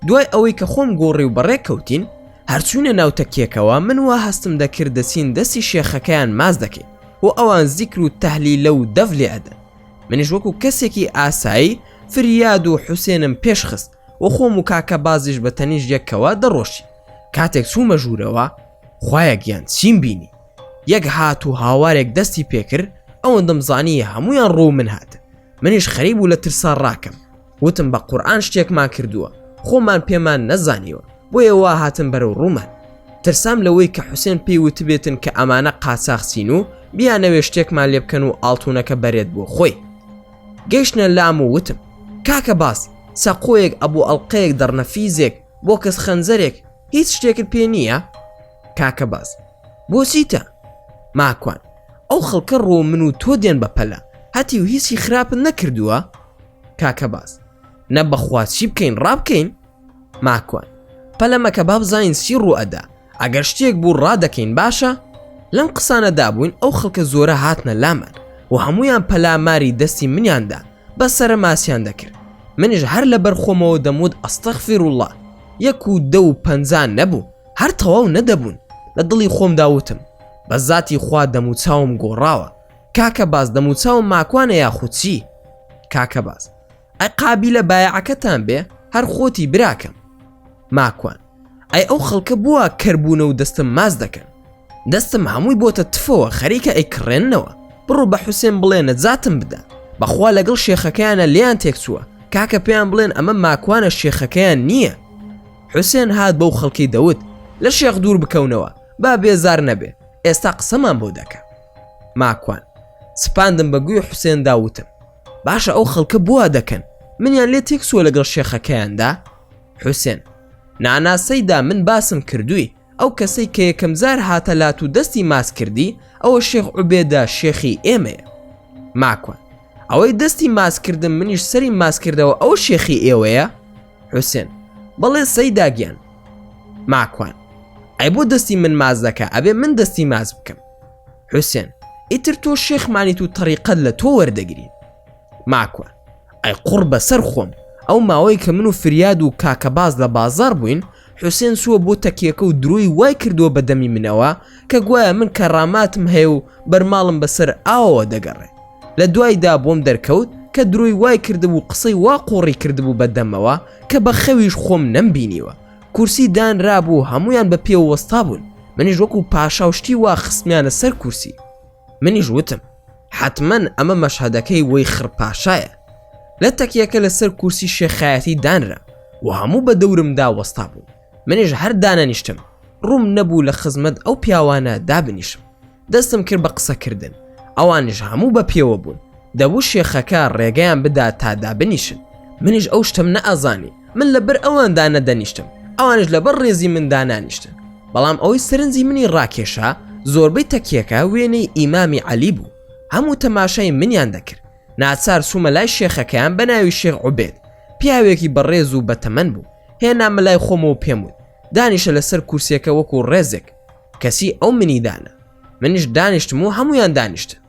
دوای ئەوەی کە خۆم گۆڕی و بەڕێک کەوتین هەرچوونە ناو تەکیەکەوە من وا هەستم دەکرد دەچین دەستی شێخەکەیان ماچ دەکەین و ئەوان زیکر و تەهلیلە و دەف لێ ئەدەن منیش وەکو کەسێکی ئاسایی فریاد و حوسێنم پێش خست و خۆم و کاکە بازیش بە تەنیش یەکەوە دەڕۆشی کاتێک چوومە ژوورەوە خوایە گیان چیم بینی یەک هات و هاوارێک دەستی پێکرد ئەوەندەم زانی هەمویان ڕوو من هاتن منیش خەریب و لە ترسا ڕاکەم وتم بە قورئان شتێکمان کردووە خۆمان پێمان نەزانیوە بۆیە وا هاتن بەرەو ڕوومان ترسام لەوەی کە حوسێن پێی وتبێتن کە ئەمانە قاچاخچین و بیانەوێ شتێکمان لێ بکەن و ئاڵتونەکە بەرێت بۆ خۆی گەیشتە لام و وتم کاکە باس سەقۆیەک ئەبوو ئەڵلقەیەک دەڕنە فیزێک بۆ کەس خەنجەرێک هیچ شتێکت پێ نییە کاکە باز بۆچیتە ماکوان ئەو خەڵکە ڕۆ من و تۆ دێن بە پەلە هەتی و هیچی خراپن نەکردووە کاکە باز نە بەخوا چی بکەین ڕابکەین ماکوان پەلەمەکە بابزانین چی ڕوئەدا ئەگەر شتێک بوو ڕادەکەین باشە لەم قسانەدا بووین ئەو خەڵکە زۆرە هاتنە لامان و هەمویان پەلاماری دەستی منیاندا بە سرە ماسیان دەکرد منیش هەر لە بەرخۆمەوە دەموت ئەستەخفی ڕووڵە یەک و دە و پەنجان نەبوو هەر تەواو نەدەبوون لە دڵی خۆم داوتم بە زاتی خوا دەموچاوم گۆڕاوە کاکە باز دەموچاوم ماکوانە یاخو چی کاکە باز ئە قابی لە بایعەکەتان بێ هەر خۆتی براکەم ماکوان ئەی ئەو خەڵکە بووە کەربوونە و دەستم ماز دەکەن دەستم هەمووی بۆتە تفەوە خەریکە ئەیکڕێنەوە بڕۆ بە حوسێن بڵێ نەجاتم بدە بەخوا لەگەڵ شێخەکەیانە لیان تێکچووە کاکە پێیان بڵێن ئەمە ماکوانە شێخەکەیان نییە حوسێن هات بەو خەڵکی دەوت لە شێخ دوور بکەونەوە با بێزار نەبێ ئێستا قسەمان بۆ دەکە ماکوان سپاندم بە گوی حوسێن دا وتم باشە ئەو خەڵکە بوا دەکەن منیان لێ تێکسوە لەگەڵ شێخەکەیاندا حوسێن ناناسەیدا من باسم کردووی ئەو کەسەی کە یەکەم زار هاتە لات و دەستی ماس کردی ئەوە شێخ عوبێدا شێخی ئێمەیە ماکوان ئەوەی دەستی ماسکردن منیش سەری ماسکردەوە ئەو شێخی ئێوەیە حوسێن بەڵێ سەیداگیان ماکوان ئەی بۆ دەستی من ماز دەکە ئەبێ من دەستی ماز بکەم حوسێن ئیتر تۆ شێخمانیت و تەریقەت لە تۆ وەردەگرین ماکوە ئەی قوڕ بەسەر خۆم ئەو ماوەی کە من و فریاد و کاکە باز لە بازار بووین حوسێن سووە بۆ تەکیەکە و درۆی وای کردووە بە دەمی منەوە کە گوایە من کە ڕاماتم هەیە و بەرماڵم بەسەر ئاوەوە دەگەڕێ لە دوایدا بۆم دەرکەوت کە درۆی وای کردبوو قسەی وا قۆڕی کردبوو بە دەمەوە کە بە خەویش خۆم نەمبینیوە کورسی دانرابوو هەمویان بە پێ وەستا بوون منیش وەکو پاشا و شتی وا خستمیانە سەر کورسی منیش وتم حتممەن ئەمە مەشهدەکەی وەی خڕپاشایە لە تەکیەکە لەسەر کورسی شێخایەتی دانرا و هەموو بە دەورمدا وەستا بوون منیش هەردانە نیشتم ڕووم نەبوو لە خزمەت ئەو پیاوانە دابنیشم دەستم کرد بە قسەکردن، ئەوانیش هەموو بە پێوە بوون، دەبوو شێخەکە ڕێگەیان بدا تا دابنیشن، منیش ئەو شتەم نەئەزانی، من لە بەر ئەوان دانەدەنیشتم، ئەوانیش لە بەر ڕێزی من دانانیشتن، بەڵام ئەوەی سەرنجی منی ڕاکێشا زۆربەی تەکیەکە وێنەی ئیمامی عەلی بوو، هەموو تەماشای منیان دەکرد، ناچار چوومە لای شێخەکەیان بە ناوی شێخ عوبێد، پیاوێکی بەڕێز و بەتەمەن بوو، هێنامە لای خۆمەوە پێم وت، دانیشە لەسەر کورسیەکە وەکو ڕێزێک، کەسی ئەو منی دانە منیش دانیشتم و هەمویان دانیشتن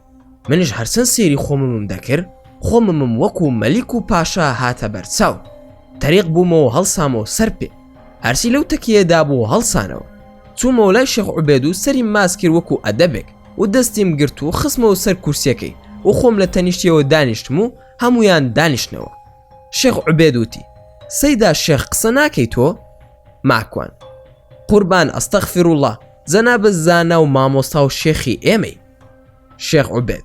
منیش هەرچەند سێری خۆممم دەکرد خۆممم وەکو مەلیک و پاشا هاتە بەرچاو تەریق بوومەوە هەڵسامەوە سەر پێ هەرسی لەو تەکیەدا بوو هەڵسانەوە چوومەوە لای شێخ عوبێد و سەری ماسکرد وەکو ئەدەبێک و دەستیم گرت و خسمەوە سەر کورسیەکەی و خۆم لە تەنیشتیەوە دانیشتم و هەمویان دانیشتنەوە شێخ عوبێد وتی، سەیدا شێخ قسە ناکەی تۆ؟ ماکوان، قوربان ئەستەغفراللە، جەنابت زانا و مامۆستا و شێخی ئێمەی. شێخ عوبێد،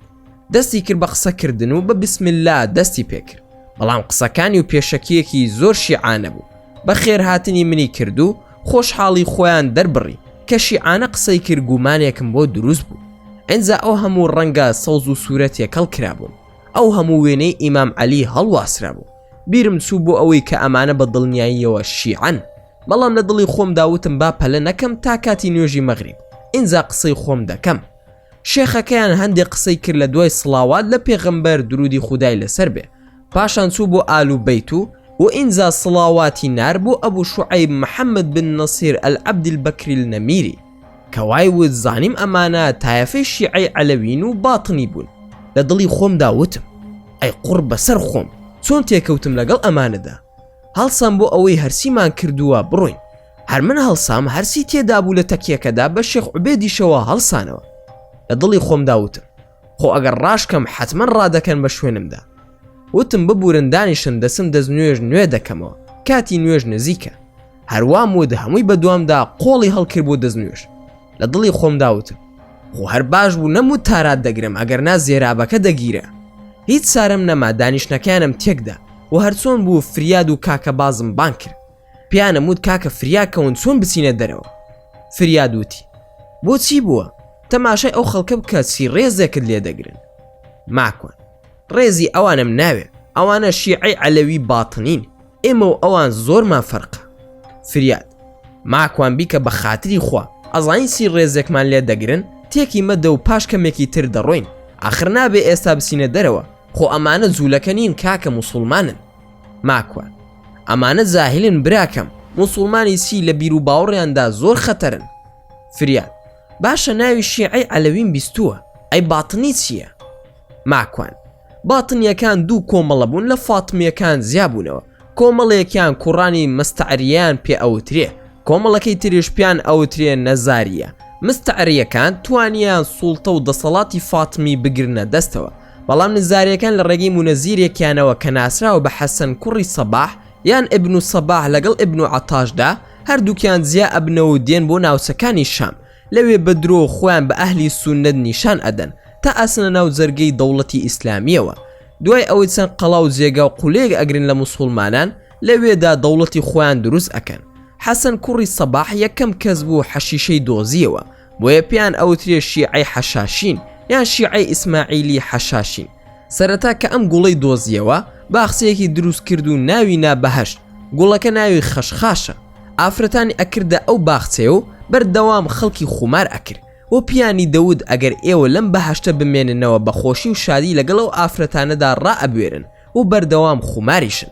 دەستی کرد بە قسە کردن و بە بسم اللە دەستی پێ کرد، بەڵام قسەکانی و پێشەکییەکی زۆر شیعانە بوو، بە خێرهاتنی منی کرد و خۆشحاڵی خۆیان دەربڕی کە شیعانە قسەی کرد گومانێکم بۆ دروست بوو، ئینجا ئەو هەموو ڕەنگە سەوز و سوورە تێکەڵ کرابوون. ئەو هەموو وێنەی ئیمام عەلی هەڵواسرا بوو بیرم چوو بۆ ئەوەی کە ئەمانە بە دڵنیاییەوە شیعەن بەڵام لە دڵی خۆم داوتم با پەلە نەکەم تا کاتی نوێژی مەغریب ئینجا قسەی خۆم دەکەم شێخەکەیان هەندێک قسەی کرد لە دوای سڵاوات لە پێغمبەر درودی خودای لەسەر بێ پاشان چوو بۆ ئالو بیت و و ئینجا سڵاواتی نار بۆ ئەبوو شعیب محەممەد بن نەسیر ئەلعەبدیل بەکریل نەمیری کە وای وت زانیم ئەمانە تایەفەی شیعەی عەلەوین و باتنی بوون لە دڵی خۆمدا وتم ئەی قوڕ بەسەر خۆم چۆن تێکەوتم لەگەڵ ئەمانەدا هەڵسام بۆ ئەوەی هەرسیمان کردووە بڕۆین هەر من هەڵسام هەرسی تێدابوو لە تەکیەکەدا بە شێخ عوبێدیشەوە هەڵسانەوە لە دڵی خۆمدا وتم خۆ ئەگەر ڕاشکەم حەتمەن ڕادەکەن بە شوێنمدا وتم ببورن دانیشن دەسم دەست نوێژ نوێ دەکەمەوە کاتی نوێژ نزیکە هەروام و دە هەمووی بەدوامدا قۆڵی هەڵکرد بۆ دەست نوێژ لە دڵی خۆم داوتم خۆ هەر باش بوو نەموو تارات دەگرم ئەگەر نا زێرابەکە دەگیرە هیچ سارم نەما دانیشتەکانم تێکدا و هەرچۆن بوو فریاد و کاکە بازم بان کرد پیانم وت کاکە فریا کەون چۆن بچینە دەرەوە فریاد وتی بۆ چی بووە تەماشای ئەو خەڵکە بکە چی ڕێزێکت لێ دەگرن ماکوان ڕێزی ئەوانم ناوێ ئەوانە شیعی عەلەوی باتنین ئێمە و ئەوان زۆرمان فەرقە فریاد ماکوان بیکە بە خاتری خوا ئەزانی چی ڕێزێکمان لێ دەگرن تێکی مەدە و پاش کەمێکی تر دەڕۆین ئاخر نابێ ئێستا بچینە دەرەوە خۆ ئەمانە جوولەکە نین کاکە موسڵمانن ماکوان ئەمانە زاهلن براکەم موسڵمانی چی لە بیر و باوڕیاندا زۆر خەتەرن فریاد باشە ناوی شیعی ئەلەویم بیستووە ئەی باتنی چییە ماکوان باتنیەکان دوو کۆمەڵە بوون لە فاتمیەکان زیابوونەوە کۆمەڵێکیان کوڕانی مستعریان پێ ئەوترێ کۆمەڵەکەی تریش پیان ئەوترێ نەزاریە مستعریەکان توانیان سوڵتە و دەسەڵاتی فاتمی بگرنە دەستەوە بەڵام نزاریەکان لە ڕێگەی مونەزیرێکیانەوە کە ناسراوە بە حەسەن کوڕی سەباح یان ئبن و سەباح لەگەڵ ئبن و عتاشدا هەردووکیان جیا ئەبنەوە و دێن بۆ ناوچەکانی شام لەوێ بە درۆ خۆیان بە ئەهلی سونەت نیشان ئەدەن تا ئەسنە ناو جەرگەی دەوڵەتی ئیسلامیەوە دوای ئەوەی چەند قەڵا و جێگا و قولەیەک ئەگرن لە مسوڵمانان لەوێدا دەوڵەتی خۆیان دروست ئەکەن حەسەن کوڕی سەباح یەکەم کەس بوو حەشیشەی دۆزیەوە بۆیە پێیان ئەوترێ شیعی حەشاشین یان شیعی ئیسماعیلی حەشاشین سەرەتا کە ئەم گوڵەی دۆزیەوە باخسەیەکی دروست کرد و ناوی نا بەهشت گوڵەکە ناوی خەشخاشە ئافرەتانی ئەکردە ئەو باخچەیە و بەردەوام خەڵکی خومار ئەکرد و پیانی دەوت ئەگەر ئێوە لەم بەهشتە بمێننەوە بەخۆشی و شادی لەگەڵ ئەو ئافرەتانەدا ڕائەبوێرن و بەردەوام خوماریشن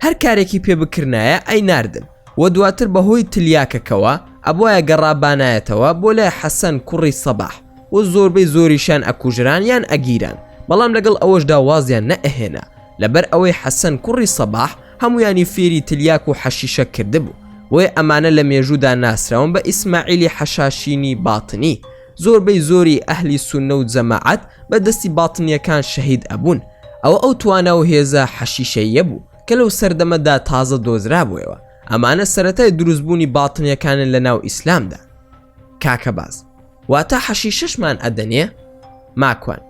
هەر کارێکی پێ بکرنایە ئەی ناردن و دواتر بەهۆی تلیاکەکەوە ئەبواە گەڕابانایەتەوە بۆ لای حەسەن کوڕی سەباح و زۆربەی زۆریشان ئەکوژران یان ئەگیران بەڵام لەگەڵ ئەوەشدا وازیان نەئەهێنا لەبەر ئەوەی حەسەن کوڕی سەباح هەمویانی فێری تلیاک و حەشیشە کردبوو بۆیە ئەمانە لە مێژوودا ناسراون بە ئیسماعیلی حەشاشینی باتنی زۆربەی زۆری ئەهلی سوننە و جەماعەت بە دەستی باتنیەکان شەهید ئەبوون ئەوە ئەو توانا و هێزە حەشیشەییە بوو کە لەو سەردەمەدا تازە دۆزرابوویەوە ئەمانە سەرەتای دروست بوونی باتنیەکانن لە ناو ئیسلامدا کاکە باز واتا حەشیشەشمان ئەدەنێ ماکوان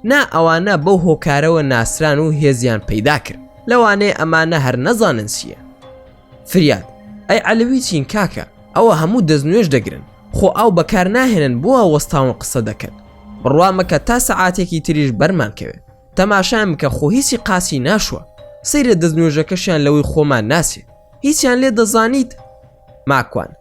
نا ئەوانە بەو هۆکارەوە ناسران و هێزیان پەیدا کرد لەوانەیە ئەمانە هەر نەزانن چیە. فریاد، ئەی عەلەوی چین کاکە؟ ئەوە هەموو دەستنوێژ دەگرن، خۆ ئاو بەکارناهێنن بۆ وا وەستاون قسە دەکەن؟ بڕوا مەکە تا سەعاتێکی تریش بەرمان کەوێ، تەماشایان بکە خۆ هیچی قاچی ناشوە، سەیرە دەستنوێژەکەشیان لەوەی خۆمان ناچێ، هیچیان لێ دەزانیت؟ ماکوان،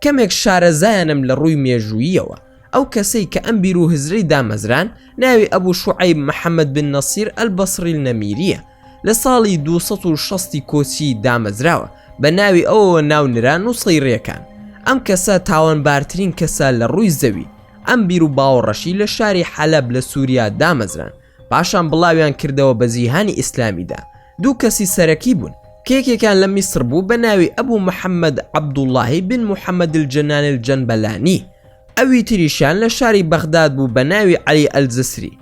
کەمێک شارەزایانم لە ڕووی مێژووییەوە، ئەو کەسەی کە ئەم بیر و هزرەی دامەزراند ناوی ئەبو شوعەیب محەمەد بن نەسیر ئەلبەسری النەمیریە، لە ساڵی دوو سەد و شەست ی کۆچی دامەزراوە، بە ناوی ئەوەوە ناو نرا نوسەیریەکان. ئەم کەسە تاوانبارترین کەسە لە ڕووی زەوی. ئەم بیر و باوەڕەشی لە شاری حەلەب لە سوریا دامەزراند، پاشان بڵاویان کردەوە بە جیهانی ئیسلامیدا. دوو کەسی سەرەکی بوون، کە یەکێکیان لە میسر بوو بە ناوی ئەبو محەمەد عەبدوڵڵاهی بن محەمەد الجنانی الجەنبەلانی، ئەوی تریشیان لە شاری بەغداد بوو بە ناوی عەلی ئەلجسری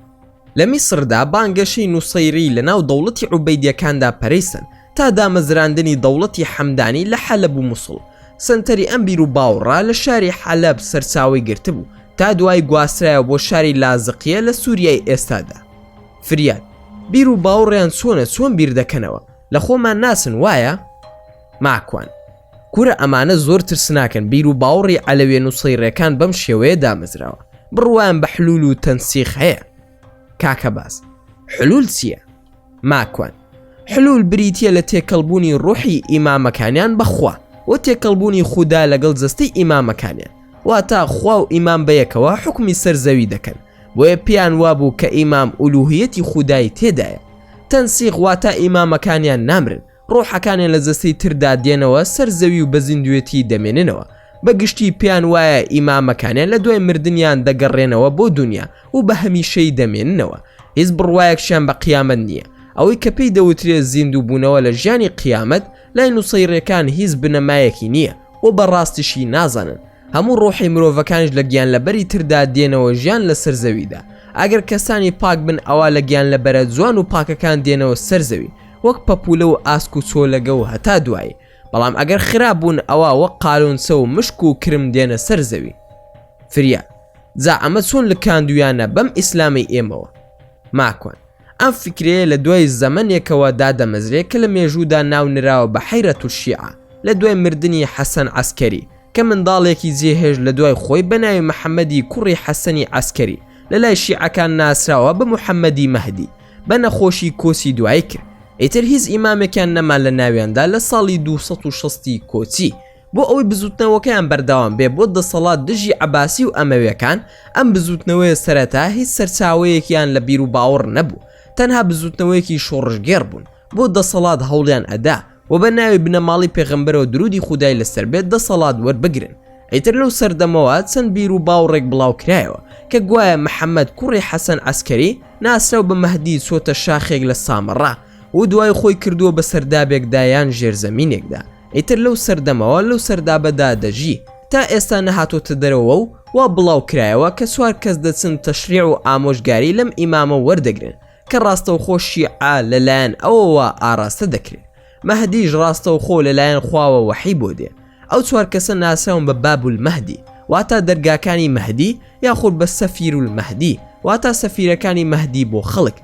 لە میسردا بانگەشەی نوسەیری لە ناو دەوڵەتی عوبەیدیەکاندا پەرەی سەند تا دامەزراندنی دەوڵەتی حەمدانی لە حەلەب و موسڵ سەنتەری ئەم بیر و باوڕە لە شاری حەلەب سەرچاوەی گرتبوو تا دوایی گواسترایەوە بۆ شاری لازقیە لە سوریای ئێستادا فریاد بیر و باوڕیان چۆنە چۆن بیر دەکەنەوە لە خۆمان ناچن وایە ماکوان کورە ئەمانە زۆر ترسناکن بیر و باوڕی عەلەوێ نوسەیڕێکان بەم شێوەیە دامەزراوە بڕوایان بە حلول و تەنسیخ هەیە کاکە باس حلول چییە ماکوان حلول بریتە لە تێکەڵبوونی ڕوحی ئیمامەکانیان بەخوا و تێکەڵبوونی خودا لەگەڵ جەستەی ئیمامەکانیان واتا خوا و ئیمام بەیەکەوە حکومی سەر زەوی دەکەن بۆیە پێیان وابوو کە ئیمام ئولوهیەتی خودایی تێدایە تەنسیغ واتا ئیمامەکانیان نامرن ڕۆحەکانیان لە جەستەی تردا دێنەوە سەر زەوی و بە زیندوێتی دەمێننەوە، بە گشتی پێیان وایە ئی مامەکانیان لە دوای مردنیان دەگەڕێنەوە بۆ دونیا و بە هەمیشەیی دەمێننەوە، هیچ بڕوایەکشیان بە قیامەت نییە، ئەوەی کە پێی دەوترێت زیندوو بوونەوە لە ژیانی قیامەت لای نوسەیڕیەکان هیچ بنەمایەکی نییە و بە ڕاستیشی نازانن، هەموو ڕۆحی مرۆڤەکانیش لە گیانلەبەری تردا دێنەوە ژیان لە سەر زەویدا، ئەگەر کەسانی پاک بن ئەوا لە گیانلەبەرە جوان و پاکەکان دێنەوە سەر زەوی، وەک پەپولە و ئاسک و چۆلەگە و هەتا دوایی بەڵام ئەگەر خراپ بوون ئەوا وەک قالونچە و مشک و کرم دێنە سەر زەوی فریا جا ئەمە چۆن لکاندویانە بەم ئیسلامەی ئێمەوە ماکوان ئەم فکرەیە لە دوای زەمەنێکەوە دادەمەزرێ کە لە مێژوودا ناو نراوە بە حەیرە تورشیعە لە دوای مردنی حەسەن عسکەری کە منداڵێکی جێهێش لە دوای خۆی بەناوی محەممەدی کوڕی حەسەنی عسکەری لە لای شیعەکان ناسراوە بە محەممەدی مەهدی بە نەخۆشی کۆچی دوایی کرد ئیتر هیچ ئیمامێکیان نەما لە ناویاندا لە ساڵی 260 کۆچی بۆ ئەوەی بزوتنەوەکەیان بەردەوام بێ بۆ دەسەڵات دژی عباسی و ئەمەوێکان ئەم بزوتنەوەیە سەرەتا هیچ سەرچاوەیەکیان لە بیر و باوەڕ نەبوو تەنها بزوتنەوەیەکی شۆڕشگێڕ بوون بۆ دەسەڵات هەوڵیان ئەدا و بە ناوی بنەماڵی پێغەمبەرەوە درودی خودای لەسەر بێت دەسەڵات وەربگرن ئیتر لەو سەردەمەوە چەند بیر و باوڕێک بڵاو کرایەوە کە گوایە محەممەد کوڕی حەسەن عسکەری ناسراو بە مەهدی چۆتە شاخێک لە سامەڕا و دوای خۆی کردووە بە سەردابێکدا یان ژێرزەمینێکدا ئیتر لەو سەردەمەوە لەو سەردابەدا دەژی تا ئێستا نەهاتۆتە دەرەوە و وا بڵاو کرایەوە کە سوار کەس دەچن تەشریع و ئامۆژگاری لەم ئیمامە وەردەگرن کە ڕاستەوخۆ شیعە لەلایەن ئەوەوە ئاراستە دەکرێت مەهدیش ڕاستەوخۆ لەلایەن خواوە وەحی بۆ دێ ئەو چوار کەسە ناسراون بە بابول مەهدی واتا دەرگاکانی مەهدی یاخود بە سەفیر و مەهدی واتا سەفیرەکانی مەهدی بۆ خەڵک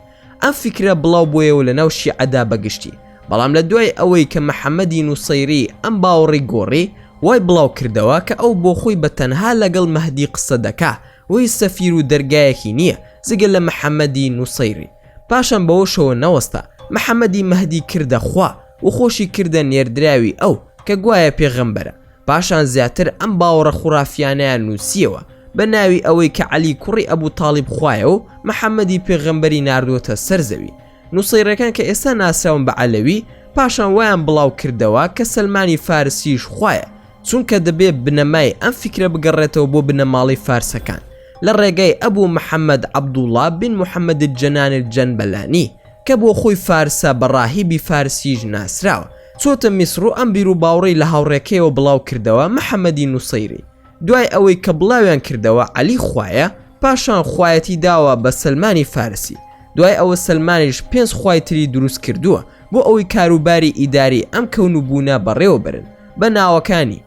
ئەم فکرە بڵاو بۆیەوە لە ناو شیعەدا بەگشتی بەڵام لە دوای ئەوەی کە محەممەدی نووسەیری ئەم باوەڕی گۆڕی وای بڵاو کردەوە کە ئەو بۆ خۆی بە تەنها لەگەڵ مەهدی قسە دەکا هۆی سەفیر و دەرگایەکی نییە جگە لە محەمەدی نوسەیری پاشان بەوەشەوە نەوەستا محەمەدی مەهدی کردە خوا و خۆشی کردە نێردراوی ئەو کە گوایە پێغەمبەرە پاشان زیاتر ئەم باوەڕە خورافیانەیان نوسییەوە بە ناوی ئەوەی کە عەلی کوڕی ئەبو تاڵیب خوایە و محەمەدی پێغەمبەری ناردووەتە سەر زەوی نوسەیرەکان کە ئێستا ناسراون بە عەلەوی پاشان وایان بڵاو کردەوە کە سەلمانی فارسیش خوایە چونکە دەبێ بنەمای ئەم فیکرە بگەڕێتەوە بۆ بنەماڵەی فارسەکان لە ڕێگای ئەبوو محەممەد عەبدوڵڵا بن محەممەد الجەنان الجەنبەلانی کە بۆ خۆی فارسە بە ڕاهیبی فارسیش ناسراوە چۆتە میسڕ و ئەم بیروباوڕەی لە هاوڕێکەیەوە بڵاو کردەوە محەممەدی نووسەیری دوای ئەوەی کە بڵاویان کردەوە عەلی خوایە پاشان خوایەتی داوە بە سلمانی فارسی دوای ئەوە سلمانیش پێنج خوای تری دروست کردووە بۆ ئەوەی کاروباری ئیداری ئەم کەون و بوونە بەڕێوە برن بە ناوەکانی،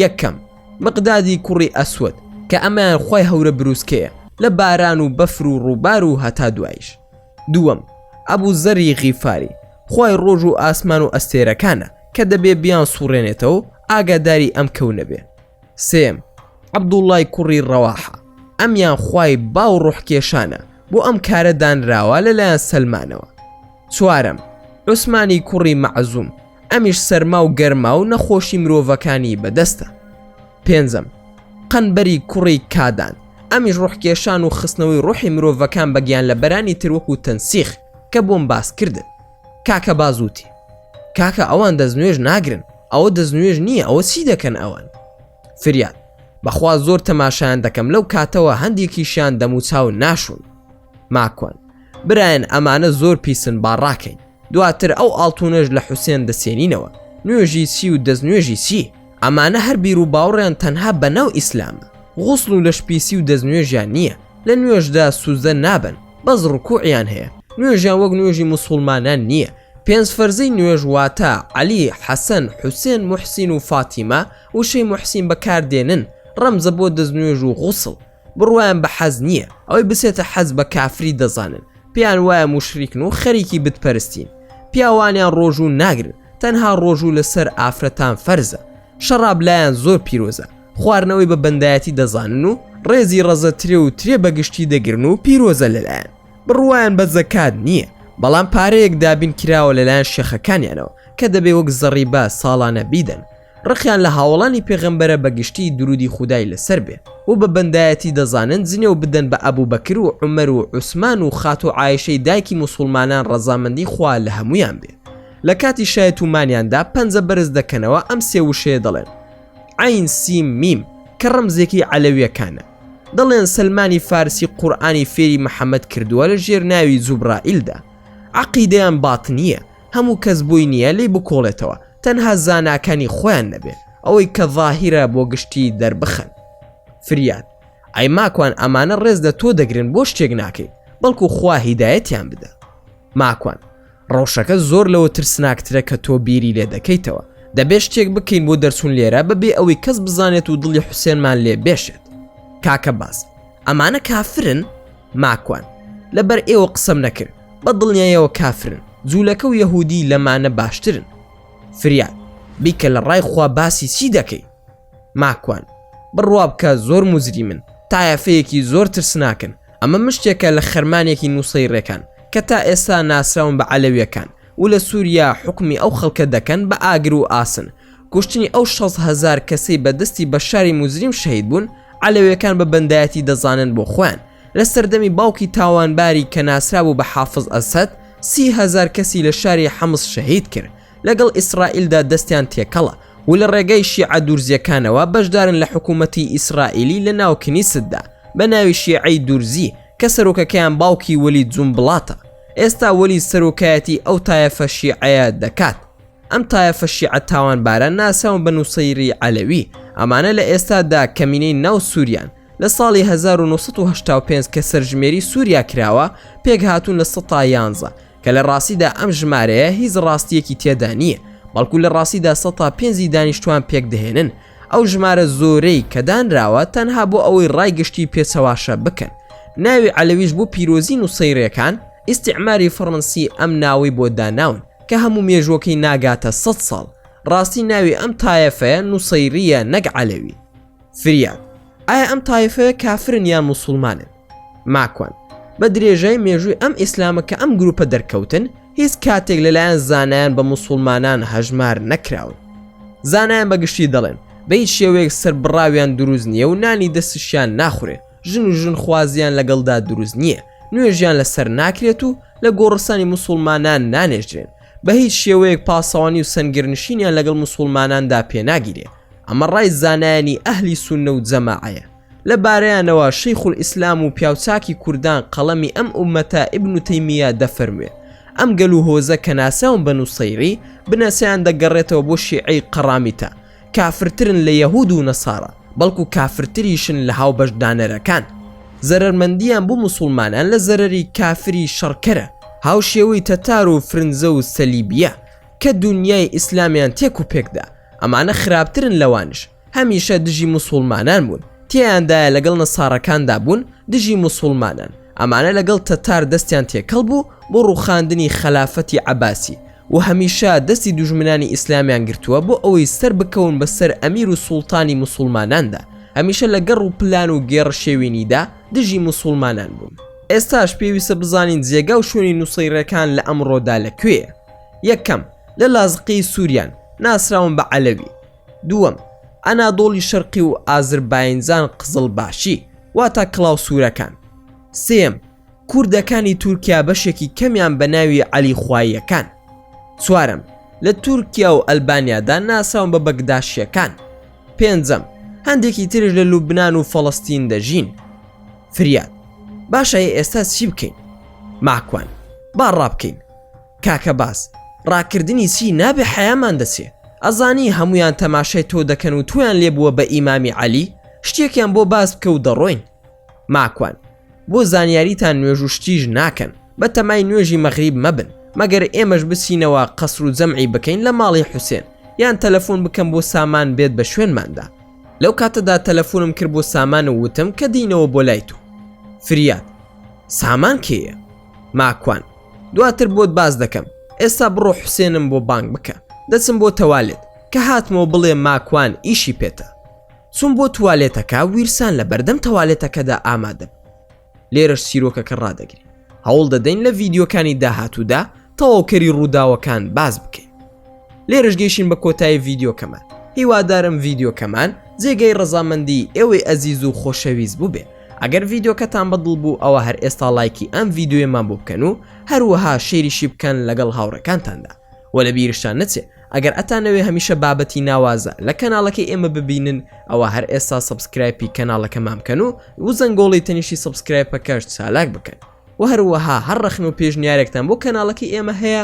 یەکەم، مقدادی کوڕی ئەسوەد، کە ئەمەیان خوای هەورە بروسکەیە لە باران و بەفر و ڕووبار و هەتا دواییش. دووەم، ئەبو زەری غیفاری، خوای ڕۆژ و ئاسمان و ئەستێرەکانە، کە دەبێ بیانسووڕێنێتەوەو ئاگاداری ئەم کەونە بێ. سێیەم، عەبدوڵڵای کوڕی ڕەواحە، ئەمیان خوای باو ڕۆحکێشانە، بۆ ئەم کارە دانراوە لە لایەن سەلمانەوە. چوارەم، عوسمانی کوڕی مەعزوم، ئەمیش سەرما و گەرما و نەخۆشی مرۆڤەکانی بەدەستە پێنجەم قەنبەری کوڕی کادان ئەمیش ڕوحکێشان و خستنەوەی ڕوحی مرۆڤەکان بەگیان لە بەرانی تروەک و تەنسیخ کە بۆم باسکردن کاکە بازوتی کاکە ئەوان دەستنوێژ ناگرن ئەوە دەستنوێژ نییە ئەوە چی دەکەن ئەوان فریاد بەخوا زۆر تەماشایان دەکەم لەو کاتەوە هەندێکیشیان دەموچاو ناشون ماکۆن برایەن ئەمانە زۆر پیسن با ڕاکەین دواتر ئەو ئاڵتونەش لە حوسێن دەسێنینەوە نوێژی چی و دەستنوێژی چی ئەمانە هەر بیر و باوڕیان تەنها بە ناو ئیسلامە غوسڵ و لەش پیسی و دەستنوێژیان نییە لە نوێژدا سوزدە نابن بەس ڕکوعیان هەیە نوێژیان وەک نوێژی مسوڵمانان نییە پێنج فەرزەی نوێژ واتە عەلی حەسەن حوسێن محسین و فاتیمە وشەی محسین بەکاردێنن ڕەمزە بۆ دەستنوێژ و غوسڵ بڕوایان بە حەز نییە ئەوەی بسێتە حەز بە کافری دەزانن پێیان وایە موشریکن و خەریکی بتپەرستین پیاوانیان ڕۆژوو ناگرن تەنها ڕۆژوو لەسەر ئافرەتان فەرزە شەڕاب لایەن زۆر پیرۆزە خواردنەوەی بە بەندایەتی دەزانن و ڕێزی ڕەزە ترێ و ترێ بەگشتی دەگرن و پیرۆزە لەلایەن بڕوایان بە زەکات نییە بەڵام پارەیەک دابین کراوە لەلایەن شێخەکانیانەوە کە دەبێ وەک زەڕیبە ساڵانە بیدەن ڕقیان لە هاوەڵانی پێغەمبەرە بە گشتی درودی خودای لەسەر بێ و بە بەندایەتی دەزانن جنێو بدەن بە ئەبو بەکر و عومەر و عوسمان و خاتوو عایشەی دایکی موسوڵمانان ڕەزامەندی خوا لە هەموویان بێ لە کاتی شای تومانیاندا پەنجە بەرز دەکەنەوە ئەم سێ وشەیە دەڵێن عین سیم میم کە ڕەمزێکی عەلەویەکانە دەڵێن سلمانی فارسی قورآانی فێری محەممەد کردووە لە ژێر ناوی زوبرائیلدا عقیدەیان بات نییە هەموو کەس بۆی نییە لێی بکۆڵێتەوە تەنها زاناکانی خۆیان نەبێ ئەوەی کە ظاهیرە بۆ گشتی دەربخەن فریاد ئەی ماکوان ئەمانە ڕێز لە تۆ دەگرن بۆ شتێک ناکەی بەڵکو خوا هیدایەتیان بدە ماکوان ڕەوشەکە زۆر لەوە ترسناکترە کە تۆ بیری لێ دەکەیتەوە دەبێ شتێک بکەین بۆ دەرچوون لێرە بەبێ ئەوەی کەس بزانێت و دڵی حوسێنمان لێ بێشێت کاکە باز ئەمانە کافرن ماکوان لەبەر ئێوە قسەم نەکرد بە دڵنیایەوە کافرن جوولەکە و یەهودی لەمانە باشترن فریاد بیکە لە ڕای خوا باسی چی دەکەی ماکوان بڕوا بکە زۆر مزری من تایەفەیەکی زۆر ترسناکن ئەمە مشتێکە لە خەرمانێکی نووسەی ڕێکان کە تا ئێستا ناسراون بە عەلەویەکان و لە سوریا حوکمی ئەو خەڵکە دەکەن بە ئاگر و ئاسن کوشتنی ئەو شەست هەزار کەسەی بە دەستی بەشاری موجریم شەهید بوون عەلەوێکان بە بەندایەتی دەزانن بۆ خۆیان لە سەردەمی باوکی تاوانباری کە ناسرابوو بە حافز ئەسەد سی هەزار کەسی لە شاری حمس شەهید کرد لەگەڵ ئیسرائیلدا دەستیان تێکەڵە و لە ڕێگای شیعە دورزیەکانەوە بەشدارن لە حکوومەتی ئیسرائیلی لە ناو کنیستدا بە ناوی شیعەی دورزی کە سەرۆکەکەیان باوکی وەلید جونبڵاتە. ئێستا وەلی سەرۆکایەتی ئەو تایەفە شیعەیە دەکات ئەم تایەفە شیعە تاوانبارە ناسراون بە نووسەیری عەلەوی ئەمانە لە ئێستادا کەمینەی ناو سووریان لە ساڵی 1995 کە سەرژمێری سووریا کراوە پێک هاتوون لە سەتا یانزە کە لە ڕاستیدا ئەم ژمارەیە هیچ ڕاستیەکی تێدا نییە بەڵکو لە ڕاستیدا سەتا پێنجی دانیشتوان پێک دەهێنن ئەو ژمارە زۆرەی کە دانراوە تەنها بۆ ئەوەی ڕای گشتی پێچەواشە بکەن ناوی عەلەویش بۆ پیرۆزی نوسەیرەکان ئیستیعماری فەڕەنسی ئەم ناوەی بۆ داناون کە هەموو مێژووەکەی ناگاتە سەد ساڵ ڕاستی ناوی ئەم تایەفەیە نوسەیریە نەک عەلەوی فریاد ئایا ئەم تایفەیە کافرن یان موسوڵمانن؟ ماکوان، بە درێژای مێژووی ئەم ئیسلامە کە ئەم گرووپە دەرکەوتن، هیچ کاتێک لەلایەن زانایان بە موسوڵمانان هەژمار نەکراون. زانایان بە گشتی دەڵێن، بە هیچ شێوەیەک سەربڕاویان دروست نییە و نانی دەستشیان ناخورێ، ژن و ژنخوازییان لەگەڵدا دروست نییە، نوێژیان لەسەر ناکرێت و لە گۆڕستانی موسوڵمانان نانێژرێن، بە هیچ شێوەیەک پاسەوانی و سەنگەرنشینیان لەگەڵ موسوڵماناندا پێناگیرێ. ئەمە ڕای زانایانی ئەهلی سوننە و جەماعەیە. لە بارەیانەوە شیخ الاسلام و پیاوچاکی کوردان قەڵەمی ئەم ئوممەتە ابن تیمیە دەفەرموێ، ئەم گەل و هۆزە کە ناسراون بە نوصەیری، بنەچەیان دەگەڕێتەوە بۆ شیعەی قەڕامیتە، کافرترن لە یەهود و نەصارا، بەڵکو کافرتریشن لە هاوبەش دانەرەکان. زەرەرمەندیان بۆ موسوڵمانان لە زەرەری کافری شەڕکەرە، هاوشێوەی تەتار و فرنجە و سەلیبیە، کە دونیای ئیسلامیان تێک و پێک دا. ئەمانە خراپترن لەوانش هەمیشە دژی مسوڵمانان بوون تێیاندایە لەگەڵ نەساڕەکاندا بوون دژی مسوڵمانان ئەمانە لەگەڵ تەتار دەستیان تێکەڵ بوو بۆ ڕوخاندنی خەلافەتی عباسی و هەمیشە دەستی دوژمنانی ئیسلامیان گرتووە بۆ ئەوەی سەر بکەون بەسەر ئەمیر و سوڵتانی مسوڵماناندا هەمیشە لە گەڕ و پلان و گێڕ شێوینیدا دژی مسوڵمانان بوون ئێستاش پێویستە بزانین جێگا و شوێنی نووسەی ڕێکان لە ئەمڕۆدا لە کوێە یەکەم لە لازقی سوریان ناسراون بە عەلەوی دووەم ئەنادۆڵی شەرقی و ئازرباینجان قزڵ باشی واتا کڵاو سوورەکان سێم کوردەکانی تورکیا بەشێکی کەمیان بە ناوی عەلی خواییەکان چوارم لە تورکیا و ئەلبانیادا ناساون بە بەگداشیەکان پێنجەم هەندێکی ترش لە لوبناان و فەڵستین دەژین فریاد باشە ئێستا چی بکەین ماکوان با ڕابکەین کاکە باس ڕاکردنی چی نابێ حەیامان دەچێ ئەزانی هەمویان تەماشای تۆ دەکەن و تۆیان لێ بووە بە ئیمامی عەلی شتێکیان بۆ باس بکە و دەڕۆین ماکوان بۆ زانیاریتان نوێژ و شتیش ناکەن بە تەمای نوێژی مەغریب مەبن مەگەر ئێمەش بچینەوە قەسر و جەمعی بکەین لە ماڵی حوسێن یان تەلەفۆن بکەم بۆ سامان بێت بە شوێنماندا لەو کاتەدا تەلەفۆنم کرد بۆ سامان و وتم کە دینەوە بۆ لای تۆ فریاد سامان کێیە ماکوان دواتر بۆت باس دەکەم ئێستا بڕۆ حوسێنم بۆ بانگ بکە دەچم بۆ تەوالێت کە هاتمەوە بڵێ ماکوان ئیشی پێتە چوم بۆ توالێتەکە ویرسان لە بەردەم تەوالێتەکەدا ئامادەم لێرەش سیرۆکەکە ڕدەگری هەوڵ دەدەین لە ڤیددیوکانی داهاتوودا تەواوکەری ڕووداوەکان باز بکەین لێرەش گەیشین بە کۆتایی ڤیددیوکەمان هیوادارم ڤیددیوکەمان جێگەی ڕزامەندی ئێوەی ئەزیز و خۆشەویست بووبێ ئەگەر ڤیددیوکەتان بەدڵ بوو ئەوە هەر ئێستا لایکی ئەم ڤیددیوێمان بۆ بکەن و هەروەها شێریشی بکەن لەگەڵ هاوڕەکانتاندا و لە بیرشتان نەچێ ئەگەر ئەتانەوێ هەمیشە بابەتی ناوازە لە کەناڵەکەی ئێمە ببینن ئەوە هەر ئێستا سبسکرایپی کەناڵەکەمان بکەن و وزەنگۆڵی تەنیشی سبسکرایپەکەش چالاک بکەن و هەروەها هەر ڕەخن و پێشنیارێکتان بۆ کەناڵەکەی ئێمە هەیە